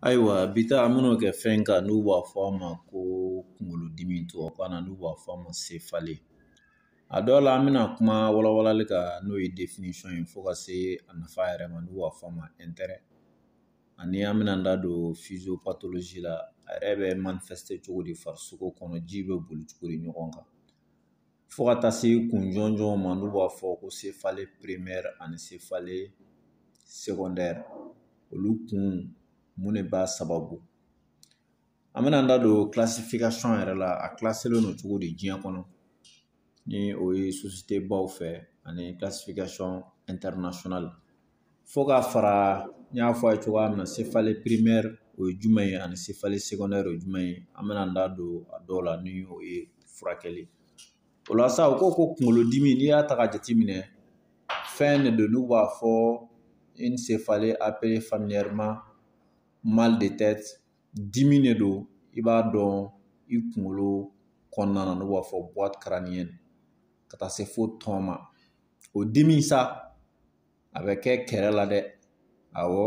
Ayiwa bi ta an bɛn'o kɛ fɛn kan n'u b'a fɔ a ma ko kunkolodimi tubabukan na n'u b'a fɔ a ma sefale a dɔw la an bɛna kuma walawalali kan n'o ye definisɔn ye fo ka se a nafa yɛrɛ ma n'u b'a fɔ a ma ɛntɛrɛ ani an bɛna da don fiziyopatolozi la a yɛrɛ bɛ manifɛsite cogo di farisogo kɔnɔ ji bɛ boli cogo di ɲɔgɔn kan fo ka taa se kun jɔnjɔn ma n'u b'a fɔ ko sefale perimɛri ani sefale segɔndɛri olu kun mun de b'a sababu an bɛna an da don kilasifikasɔn yɛrɛ la a kilasilen don cogo di diɲɛ kɔnɔ ni o ye sosiyetebaw fɛ ani kilasifikasɔn ɛntɛrinasiyɔnali fo ka fara n y'a fɔ a ye cogoya min na sefale perimɛri o ye jumɛn ye ani sefale sekɔndɛri o ye jumɛn ye an bɛna an da don a dɔw la ni o ye furakɛli o la sa u ko ko kunkolodimi n'i y'a ta ka jateminɛ fɛn de don n'u b'a fɔ in sefale apele familiyɛrima mal de tɛt dimi de don i b'a dɔn i kunkolo kɔnɔna na n'u b'a fɔ buwat karaniyɛn ka taa se fo tɔn ma o dimi sa a bɛ kɛ kɛrɛ la dɛ awɔ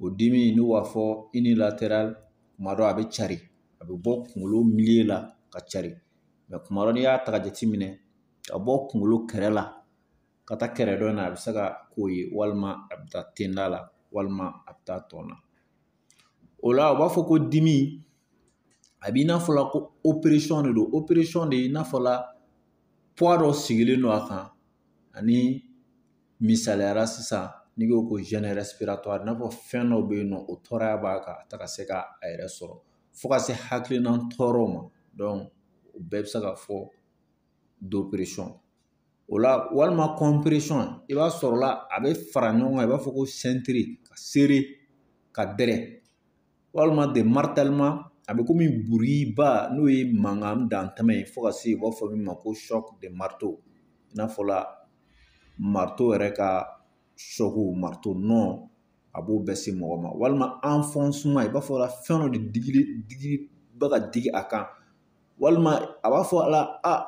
o dimi n'u b'a fɔ inilateral kuma dɔ a bɛ cari a bɛ bɔ kunkolo miliye la ka cari mɛ kuma dɔ n'i y'a ta ka jateminɛ ka bɔ kunkolo kɛrɛ la ka taa kɛrɛ dɔ in na a bɛ se ka k'o ye walima a bɛ taa tenda la walima a bɛ taa tɔn na o la u b'a fɔ ko dimi a b'i n'a fɔ la ko operesɔn de don operesɔn de i n'a fɔ la puwa dɔ sigilen don a kan ani misaliya la sisan n'i ko ko zɛni rɛsipiratuwari i n'a fɔ fɛn dɔ bɛ yen nɔ o tɔɔrɔya b'a kan a tɛ ka se ka a yɛrɛ sɔrɔ fo ka se hakilina tɔɔrɔ ma dɔnki o bɛɛ bɛ se ka fɔ d'operesɔn o la walima kɔnperesɔn i b'a sɔrɔ la a bɛ fara ɲɔgɔn kan i b'a fɔ ko sɛntiri ka sere ka dɛrɛ walima de maritɛlima a bɛ komi buriba n'o ye mankan dantɛmɛ ye fo ka se u b'a fɔ min ma ko sɔk de marito i n'a fɔ la marito yɛrɛ ka sɔku marito nɔ a b'o bɛɛ se mɔgɔ ma walima anfɔnsema i b'a fɔ la fɛn dɔ de digi bɛ ka digi a kan walima a b'a fɔ la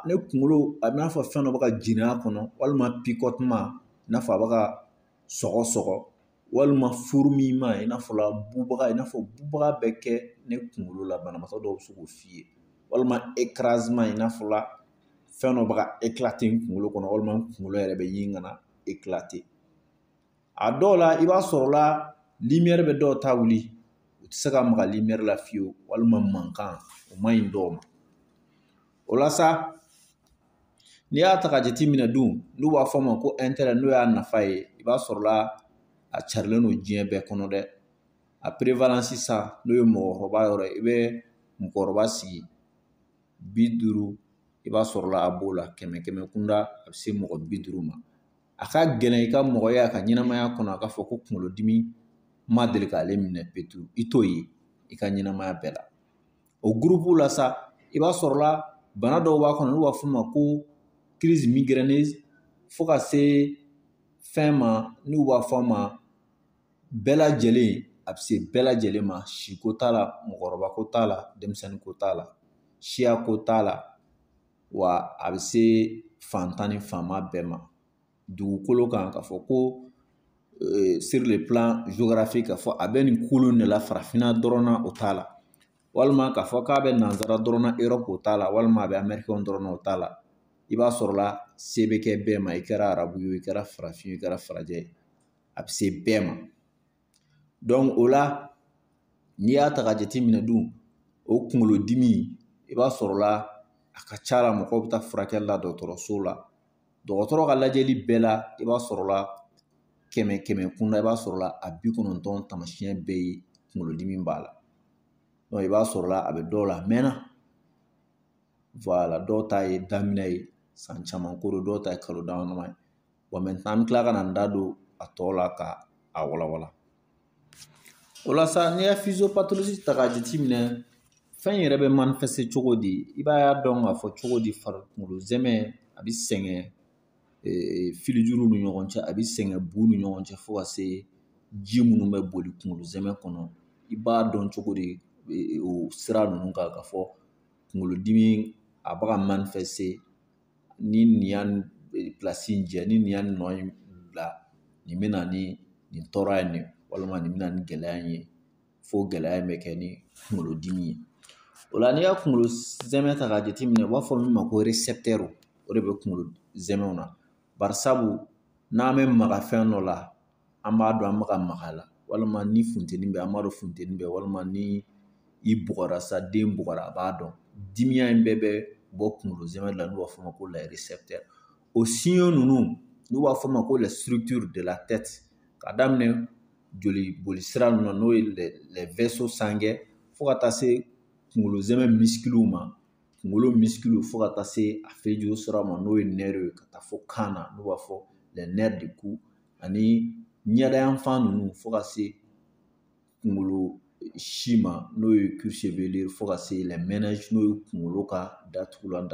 ne kunkolo a b'i n'a fɔ fɛn dɔ bɛ ka jeni a kɔnɔ walima pikɔtuma i n'a fɔ a bɛ ka sɔgɔ sɔgɔ walima furumiyima i n'a fɔ la bubaga i n'a fɔ bubaga bɛ kɛ ne kunkolo la banabagatɔ dɔw bɛ se k'o f'i ye walima ekarazima i n'a fɔ la fɛn dɔ bɛ ka ekilate n kunkolo kɔnɔ walima n kunkolo yɛrɛ bɛ ɲini ka na ekilate a dɔw la i b'a sɔrɔ la limɛri bɛ dɔw ta wuli u tɛ se ka maga limɛri la fiyewu walima mankan o man ɲi dɔw ma o la sa n'i y'a ta ka jateminɛ dun n'u b'a fɔ a ma ko intérêt n'o y'a nafa ye i b'a sɔrɔla a carilen don diɲɛ bɛɛ kɔnɔ dɛ a prévalence sa n'o ye mɔgɔkɔrɔba yɔrɔ ye i bɛ mɔgɔkɔrɔba sigi bi duuru i b'a sɔrɔla a b'o la kɛmɛ kɛmɛ kunda a bɛ se mɔgɔ bi duuru ma a ka gɛlɛn i ka mɔgɔ ye a ka ɲɛnamaya kɔnɔ a k'a fɔ ko kunkolodimi ma deli k'ale minɛ petu i t'o ye i ka ɲɛnamaya bɛɛ la o gurupu la sa i b'a sɔrɔla bana dɔw b'a kɔnɔ n'u b'a f'o ma ko crise migraineuse fo ka se fɛn ma n'u b'a fɔ a ma bɛɛ lajɛlen a bɛ se bɛɛ lajɛlen ma si ko t'a la mɔgɔkɔrɔba ko t'a la denmisɛnnin ko t'a la siya ko t'a la wa a bɛ se fantan ni faama bɛɛ ma dugukolo kan ka fɔ ko euh, sur le plan géographique ka fɔ a bɛ nin kulu in de la farafinna dɔrɔn na o t'a la walima k'a fɔ k'a bɛ nanzara dɔrɔn na Europe o t'a la walima a bɛ amɛrikɛnw dɔrɔn na o t'a la i b'a sɔrɔla se bɛ kɛ bɛɛ ma i kɛra arabu ye o i kɛra farafin ye o i kɛra farajɛ ye a bɛ se bɛɛ ma o la n'i y'a ta ka jateminɛ dun o kunkolodimi i b'a sɔrɔla a ka ca la mɔgɔw bɛ taa furakɛli la dɔgɔtɔrɔso la dɔgɔtɔrɔ ka lajɛli bɛɛ la i b'a sɔrɔla kɛmɛ kɛmɛ kun na i b'a sɔrɔla a bi kɔnɔntɔn taamasiyɛn bɛɛ ye kunkolodimi b'a la donc i b'a sɔrɔla a bɛ dɔw la a mɛnna voilà dɔw ta ye daminɛ ye san caman ko don dɔw ta ye kalo dama dama ye bon maintenant an bɛ tila ka na an da don a tɔ la ka a walawala o la sa n'i ye physiopathologie ta k'a jateminɛ fɛn in yɛrɛ bɛ manifester cogo di i b'a y'a dɔn k'a fɔ cogo di farikolo zɛmɛ a bɛ sɛgɛn filijuru ni ɲɔgɔn cɛ a bɛ sɛgɛn bu ni ɲɔgɔn cɛ fo ka se ji minnu bɛ boli kunkolo zɛmɛ kɔnɔ i b'a dɔn cogo di o sira ninnu kan ka fɔ kunkolodimi a bɛ ka manifester ni nin y'a place in jɛ ni nin y'a nɔ in bila nin bɛna ni nin tɔɔrɔ ye nin walima nin bɛna ni gɛlɛya in ye fo gɛlɛya in bɛ kɛ ni kunkolodimi ye o la n'i y'a kunkolo zɛmɛ ta k'a jateminɛ u b'a fɔ min ma ko récepteur o de bɛ kunkolo zɛmɛw na barisabu n'an bɛ maga fɛn dɔ la an b'a dɔn an bɛ ka maga a la walima ni funteni bɛ an b'a dɔn funteni bɛ walima ni i bugɔra sa den bugɔra a b'a dɔn dimiya in bɛɛ bɛ bɔ kunkolo zɛmɛ la n'u b'a fɔ o ma ko les récepteurs o signaux ninnu n'u b'a fɔ o ma ko la structure de la tête ka daminɛ joli boli sira ninnu na n'o ye les vaisseaux sanguins fo ka taa se kunkolo zɛmɛ misikiliw ma kunkolo misikiliw fo ka taa se a fejo sira ma n'o ye nerf ye ka taa fo kan na n'u b'a fɔ les nerfs du cou ani ɲɛdayanfan ninnu fo ka se kunkolo si ma n'o ye cuir chevelu fo ka se les méninges n'o ye kunkolo ka datugulan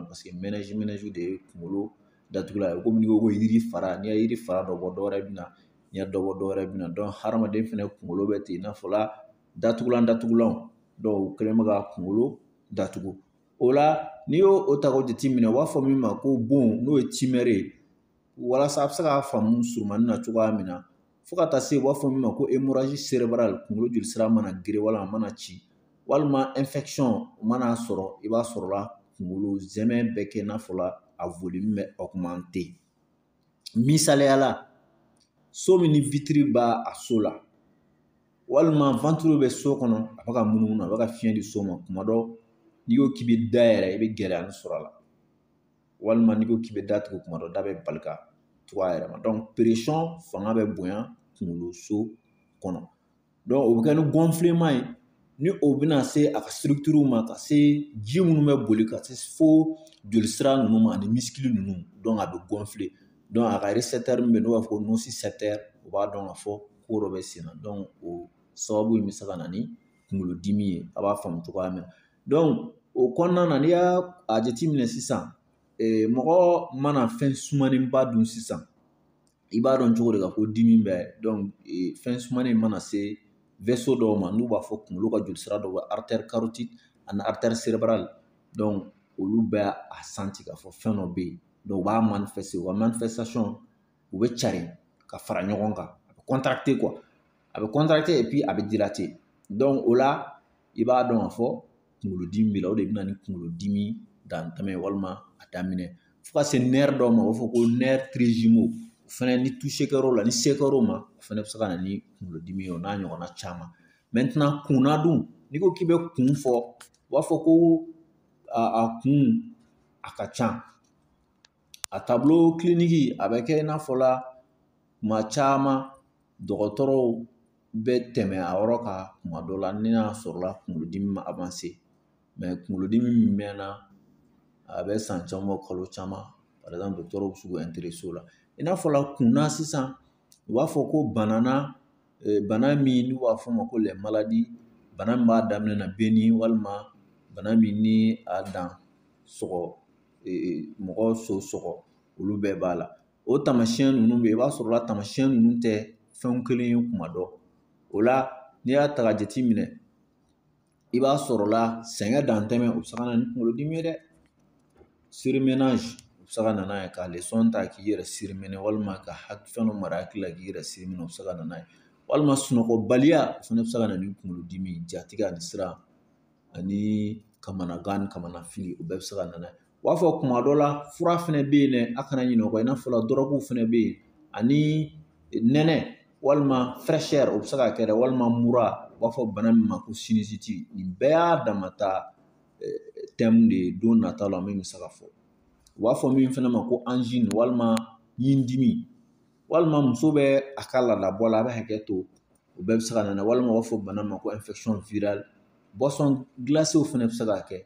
parce que méninge de ye kunkolo datugulan ye komi n'i ko ko yiri fara n'i ye yiri fara dɔ bɔ dɔwɛrɛ bɛ na n'i ye dɔ bɔ dɔwɛrɛ bɛ na hadamaden fɛnɛ kunkolo bɛ ten i n'a fɔla datugulan datugulanw dɔw u kɛlen bɛ ka kunkolo datugu o la n'i y'o ta k'o jateminɛ u b'a fɔ min ma ko bon n'o ye timɛri ye walasa a bɛ se k'a faamu surunmanin na cogoya min na fo ka taa se u b'a fɔ min ma ko hémorragie cérébrale kunkolo jolisira mana geren walima a mana ci walima infection mana a sɔrɔ i b'a sɔrɔla kunkolo sɛmɛ bɛ kɛ i n'a fɔla a volume bɛ augmenter misaliyala so min ni vitre b'a so la walima ventilo bɛ so kɔnɔ a bɛ ka munumunu a bɛ ka fiɲɛ di so ma kuma dɔ n'i ko k'i bɛ da yɛlɛ i bɛ gɛlɛya sɔrɔ a la walima n'i ko k'i bɛ da tugu kuma dɔ da bɛ bali ka tugu a yɛrɛ ma donc pression fanga bɛ bonya kunkolo so kɔnɔ donc o bɛ kɛ ni gonflement ye ni o bɛna se a ka structure ma ka se ji minnu bɛ boli ka se fo jolisira ninnu ma ani misikili ninnu a bɛ gonfler donc a ka récepteur min bɛ yen n'o b'a fɔ ko nocicepteur o b'a dɔn ka fɔ ko dɔ bɛ sen na donc o sababu in bɛ se ka na ni kunkolodimi ye a b'a faamu cogoya min na o kɔnɔna na n'i y'a a jateminɛ sisan mɔgɔ mana fɛn sumanenba dun sisan i b'a dɔn cogo di ka ko dimi bɛ fɛn sumanen mana se dɔw ma n'u b'a fɔ kunkolo ka joli sira dɔ bɛ ani olu bɛ a santi k'a fɔ fɛn dɔ bɛ yen u b'a wa u bɛ carin ka fara ɲɔgɔn kan a bɛ a bɛ a bɛ o la i b'a dɔn ka fɔ kunkolodimi b'i la o de bɛ na ni kunkolodimi dantɛmɛ walima a daminɛ fo ka se nerf dɔw ma u b'a fɔ ko nerf trijumeau o fɛnɛ ni toucher kɛr'o la ni se kɛr'o ma o fɛnɛ bɛ se ka na ni kunkolodimi ye o n'a ɲɔgɔnna caman maintenant kunna dun n'i ko k'i bɛ kun fɔ u b'a fɔ ko a kun a ka ca a tableau clinique a bɛ kɛ i n'a fɔ la kuma caman dɔgɔtɔrɔw bɛ tɛmɛ a yɔrɔ kan kuma dɔ la ni n'a sɔrɔla kunkolodimi ma avancer mais kunkolodimi min mɛnna a bɛ san caman bɔ kalo caman par exemple dɔgɔtɔrɔw bɛ se k'u intéresser o la i n'a fɔla kunna sisan u b'a fɔ ko bana na bana min n'u b'a fɔ o ma ko les maladies bana min b'a daminɛ na bɛ ni walima bana min ni a dan sɔgɔ mɔgɔ so sɔgɔ olu bɛɛ b'a la o taamasiyɛn ninnu bɛ yen i b'a sɔrɔ la taamasiyɛn ninnu tɛ fɛn kelen ye kuma dɔ o la n'i y'a ta ka jate minɛ i b'a sɔrɔ la sɛgɛn dantɛmɛ o bɛ se ka na ni kunkolodimi ye dɛ surmenage o bɛ se ka na n'a ye ka leçon ta k'i yɛrɛ surmener walima ka fɛn dɔ mara hakili la k'i yɛrɛ surmener o bɛ se ka na n'a ye walima sunɔgɔbaliya o fana bɛ se ka na ni kunkolodimi jatigɛ ani siran ani kamanagan ni kamanafili o bɛɛ bɛ se ka na n'a ye u b'a fɔ kuma dɔ la fura fɛnɛ bɛ yen dɛ a kana ɲinɛ o kɔ i n'a fɔ la dɔrɔguw fɛnɛ bɛ yen ani nɛnɛ walima fraîcheur o bɛ se ka kɛ dɛ walima mura u b'a fɔ bana min ma ko sinusite nin bɛɛ y'a damata thème de ye don nataw la min bɛ se ka fɔ u b'a fɔ min fɛnɛ ma ko angine walima ɲindimi walima muso bɛ a ka laadabɔ la a bɛ hakɛ to o bɛɛ bɛ se ka na walima u b'a fɔ bana ma ko infection virale boisson glacée fɛnɛ bɛ se ka kɛ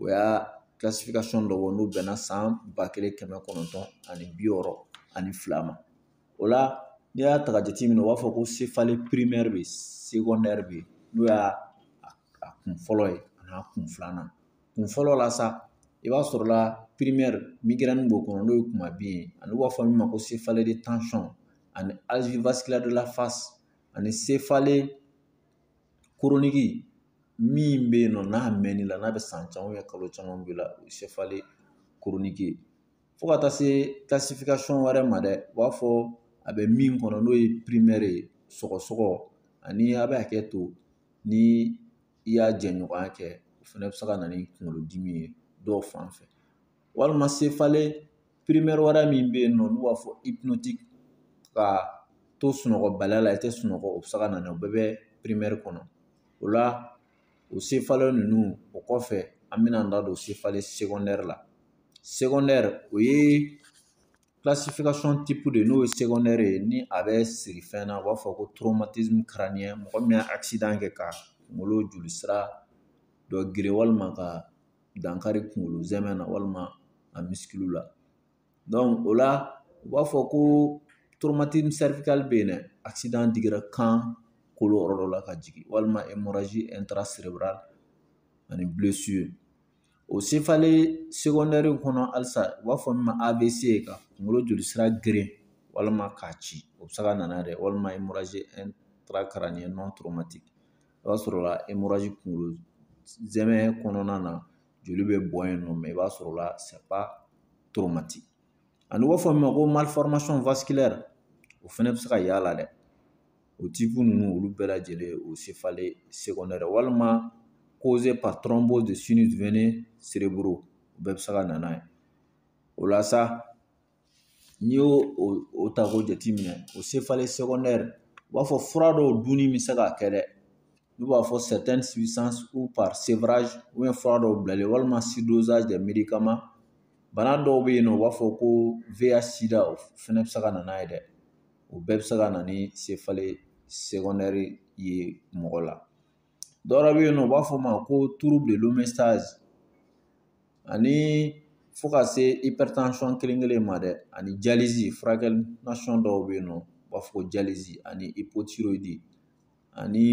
o y'a classification dɔ bɔ n'o bɛnna san ba kelen kɛmɛ kɔnɔntɔn ani bi wɔɔrɔ ani fila ma o la n'i y'a ta ka jateminɛ u b'a fɔ ko céphalée primaire bɛ yen secondaire bɛ yen n'o y'a kun fɔlɔ ye ani a kun filanan kun fɔlɔ la sa i b'a sɔrɔ la primaire migraine b'o kɔnɔ n'o ye kumabi ye ani u b'a fɔ min ma ko céphalée de tension ani algie vasculaire de la face ani céphalée chronique min bɛ yen nɔ n'a mɛnn'i la n'a bɛ san caman kalo caman b'i la o ye céphalée chronique ye fo ka taa se classification wɛrɛ ma dɛ u b'a fɔ a bɛ min kɔnɔ n'o ye primaire ye sɔgɔsɔgɔ ani a bɛ hakɛ to ni i y'a jɛɲɔgɔnya kɛ o fana bɛ se ka na ni kunkolodimi ye dɔw fan fɛ walima céphalée primaire wɛrɛ min bɛ yen nɔ n'u b'a fɔ hypnotique ka to sunɔgɔbaliya la i tɛ sunɔgɔ o bɛ se ka na ni o bɛɛ bɛ primaire kɔnɔ o la o céphalée ninnu o kɔfɛ an bɛna an da don céphalée secondaire la secondaire o ye classification type de n'o ye secondaire ye ni a bɛ siri fɛn na u b'a fɔ ko traumatisme crânien mɔgɔ min ye accident kɛ ka kunkolo jolisira dɔ geren walima ka dankari kunkolo zɛmɛ na walima a misikiliw la o la u b'a fɔ ko bɛ yen dɛ digira kan kolo yɔrɔ dɔ la ka jigin walima ani o sefalen kɔnɔ halisa u b'a fɔ min ma AVC ka kunkolo jolisira geren walima k'a ci o bɛ se ka na n'a ye dɛ walima o b'a sɔrɔ la kunkolo zɛmɛ kɔnɔna na joli bɛ bɔn yen nɔ mɛ i b'a sɔrɔ la toromati ani u b'a fɔ min ma ko o fɛnɛ bɛ se ka y'a la dɛ o tipu ninnu olu bɛɛ lajɛlen o sefale sekɔndɛri walima koze patɔrɔnbo de sini dumuni sereburu o bɛɛ bɛ se ka na n'a ye o la sa N'i y'o o ta k'o jateminɛ o sefalen sɛgɛndɛri u b'a fɔ fura dɔw dunni bɛ se k'a kɛ dɛ n'u b'a fɔ fura dɔw bilalen walima bana dɔw bɛ yen nɔ u b'a fɔ ko o fɛnɛ bɛ se ka na n'a ye dɛ o bɛɛ bɛ se ka na ni sefalen ye mɔgɔ la dɔ wɛrɛ bɛ yen nɔ u b'a fɔ o ma ko trouble de l'homéostase ani fo ka se hypertension kelen kelen ma dɛ ani dialyse furakɛli nasɔn dɔw bɛ yen nɔ u b'a fɔ ko dialyse ani hypothyroïde ani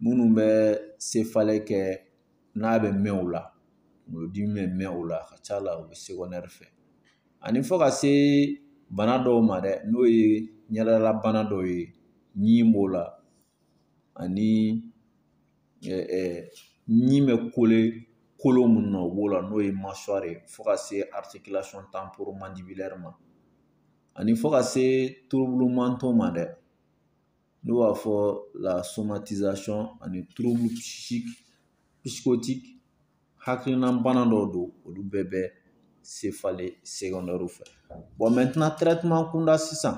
minnu bɛ céphalée kɛ n'a bɛ mɛn o la kunkolodimi bɛ mɛn o la a ka ca la o bɛ secondaire fɛ ani fo ka se bana dɔw ma dɛ n'o ye ɲɛdalabana dɔw ye ɲi b'o la ani ɲi bɛ kole kolo minnu na u b'o la n'o ye masɔrɔ ye fo ka se tan ma ani fo ka se torobolo mantɔ ma dɛ n'u b'a fɔ la ani turubu sikoti hakilina bana dɔw don olu bɛɛ bɛ se falen sɛgɛnɛrɛri fɛ kunda sisan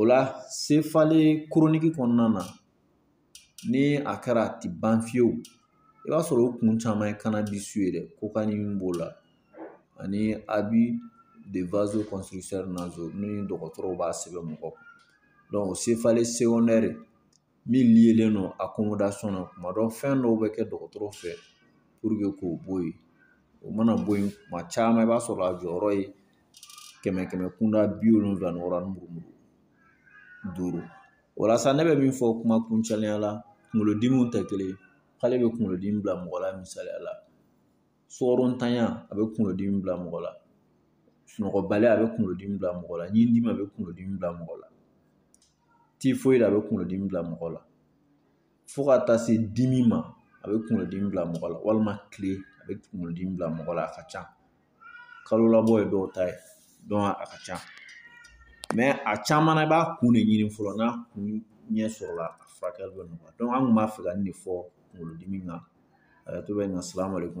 o la sefalen koroniki kɔnɔna na ni a kɛra a ti ban fiyewu i b'a sɔrɔ o kun caman ye kana di su ye dɛ ko ka ni min b'o la ani a bi de vazo kɔnsɛri nazo ni dɔgɔtɔrɔw b'a sɛbɛn mɔgɔ kun dɔnku sefale sewɔndɛri min liélen don accommodation na tuma dɔ fɛn dɔw bɛ kɛ dɔgɔtɔrɔ fɛ pour k'o bɔ yen o mana bɔ yen tuma caman i b'a sɔrɔ a jɔyɔrɔ ye kɛmɛ kɛmɛ kunda bi wolonwula ni wɔɔrɔ ni murumuru duuru o la sa ne bɛ min fɔ kuma kuncɛlenya la kunkolodimiw tɛ kelen ye k'ale bɛ kunkolodimi bila mɔgɔ la misaliya la sukarontanya a bɛ kunkolodimi bila mɔgɔ la sunɔgɔbaliya a bɛ kunkolodimi bila mɔgɔ la ɲindimi a bɛ kunkolodimi bila mɔgɔ la typhoïde a bɛ kunkolodimi bila mɔgɔ la fo ka taa se dimi ma a bɛ kunkolodimi bila mɔgɔ la walima kile a bɛ kunkolodimi bila mɔgɔ la a ka ca kalo labɔ ye dɔw ta ye donc a ka ca a caman na i b'a kun de ɲini fɔlɔ n'a kun ɲɛ sɔrɔla a furakɛli bɛ nɔgɔya an kun b'a fɛ ka nin de fɔ kunkolodimi kan a tɔ bɛ na salamu aleykum